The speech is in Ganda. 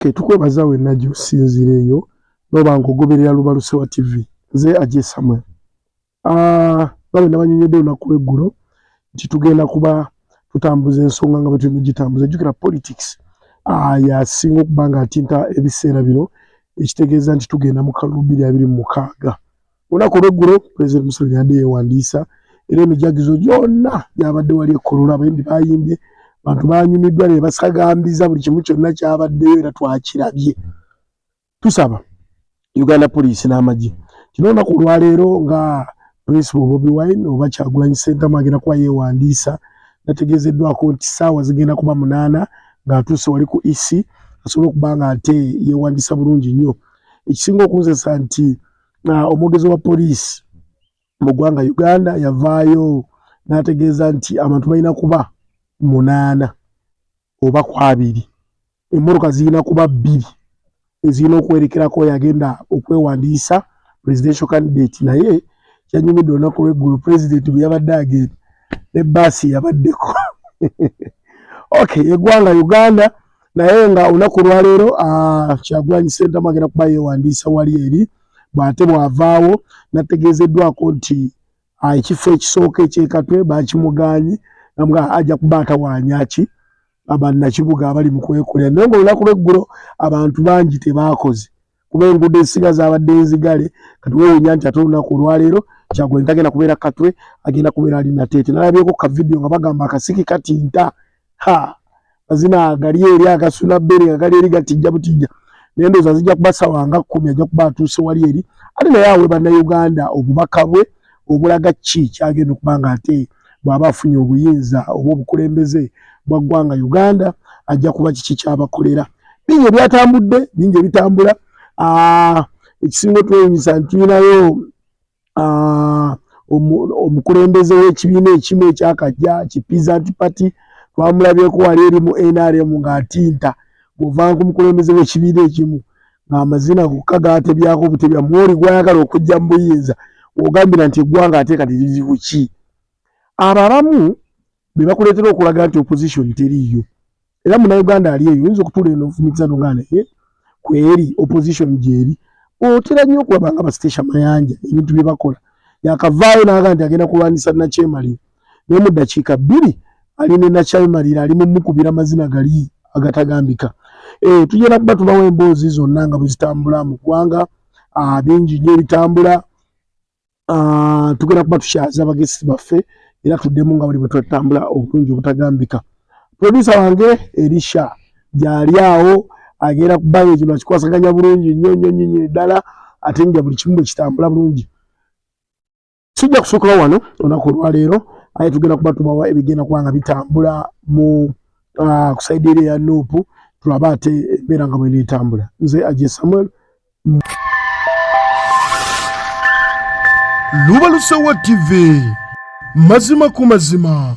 ketukwebaza wenna gyosinzira eyo noba nga ogoberera lubalusewa tv nze aje samuel ah, nga bwe nabanyonyodde olunaku lweggulo nti tugenda kuba tutambuza ensonga nga bwetulina ogitambuza jjukira politics ah, yasinga okuba nga atinta ebiseera bino ekitegeeza nti tugenda mu kalulu biri abiri mu mukaaga olunaku olweggulo pulezidenti museveni yadde yeewandiisa era emijagizo gyonna gyabadde wali ekkololo abayimbi bayimbye bantu banyumiddwa ne basagambiza buli kimu kyonna kyabaddeyo era twakirabye tusaba uganda poliisi n'amagye kino olunaku olwaleero nga principal bobi wine oba kyagulanyi sentamu agenda kuba yeewandiisa nategeezeddwako nti ssaawa zigenda kuba munaana ng'atuuse wali ku ec asobole okuba nga ate yeewandiisa bulungi nnyo ekisinga okunzesa nti omwogezi wa poliisi mu ggwanga uganda yavaayo n'ategeeza nti abantu balina kuba munaana oba ku abiri emmotoka zirina kuba bbiri ezirina okwerekerako yagenda okwewandiisa presidential candidate naye kyanyumidde olunaku lweggulu president bwe yabadde agenda ne baasi yabaddeko okay eggwanga uganda naye nga olunaku olwaleero ah, kyagulanyi sentamu agenda kuba yewandiisa wali eri bwate bwavaawo nategeezeddwako nti ah, ekifo ekisooka ekyekatwe bakimugaanyi nga ajja kuba atawaanyaki abannakibuga abali mu kwekolera naye nga olunaku lweggulo abantu bangi tebaakoze kuba enguudo ezisinga zabadde nzigale kati wewunya nti ate olunaku olwaleero kyagulanyi tagenda kubeera katwe agenda kubeera ali nateete nalabyeko ka vidiyo nga bagamba akasiki katinta ha mazina gali eri agasula bbere nga gali eri gatijja butijja naye ndowooza zijja kuba sawa nga kkumi ajja kuba atuuse wali eri ate naye awe bannayuganda obubaka bwe obulaga ki kyagenda okuba nga ate bw'aba afunye obuyinza oba obukulembeze bwa ggwanga Uganda ajja kuba kiki kyabakolera. Bingi ebyatambudde, bingi ebitambula. Ah, ekisinga otwewunyisa nti tulinayo ah, omukulembeze w'ekibiina ekimu ekyakajja ki Peasant Party twamulabyeko wali eri mu NRM ng'atinta bw'ovaanga ku mukulembeze w'ekibiina ekimu amazina gokka gaatebyako butebya mwoli gwayagala okujja mu buyinza ogambira nti eggwanga ate kati liri kuki abo abamu be bakuleetera okulaga nti opposition teriiyo era munauganda ali eyo oyinza okutuula eno ofumitisa no nga naye kweri opposition gyeri otera nnyo okulaba nga bastecia mayanja ebintu bye bakola yakavaayo naaga nti agenda kulwanyisa nakyemaliro naye mu ddakiika bbiri ali ne nakyemalira ali mumukubira amazina gali agatagambika eh, tugenda kuba tubawo emboozi zonna nga bwe zitambula mu ggwanga ah, bingi nnyo ebitambula ah, tugenda kuba tukyaza abagesi baffe era tuddemu nga buli bwe twatambula obulungi obutagambika produsa wange erisha gyali awo agenda kubanga ekino akikwasaganya bulungi nnyo nnyo nnyo ddala ate nga buli kimu bwe kitambula bulungi sijja kusukira wano olunaku olwaleero aye tugenda kuba tubawa ebigenda kuba nga bitambula mu ah, kusaidi eri eya nuupu tulabe ate embeera nga bwena etambula nze aje samuel lubalusewa tv mazima ku mazima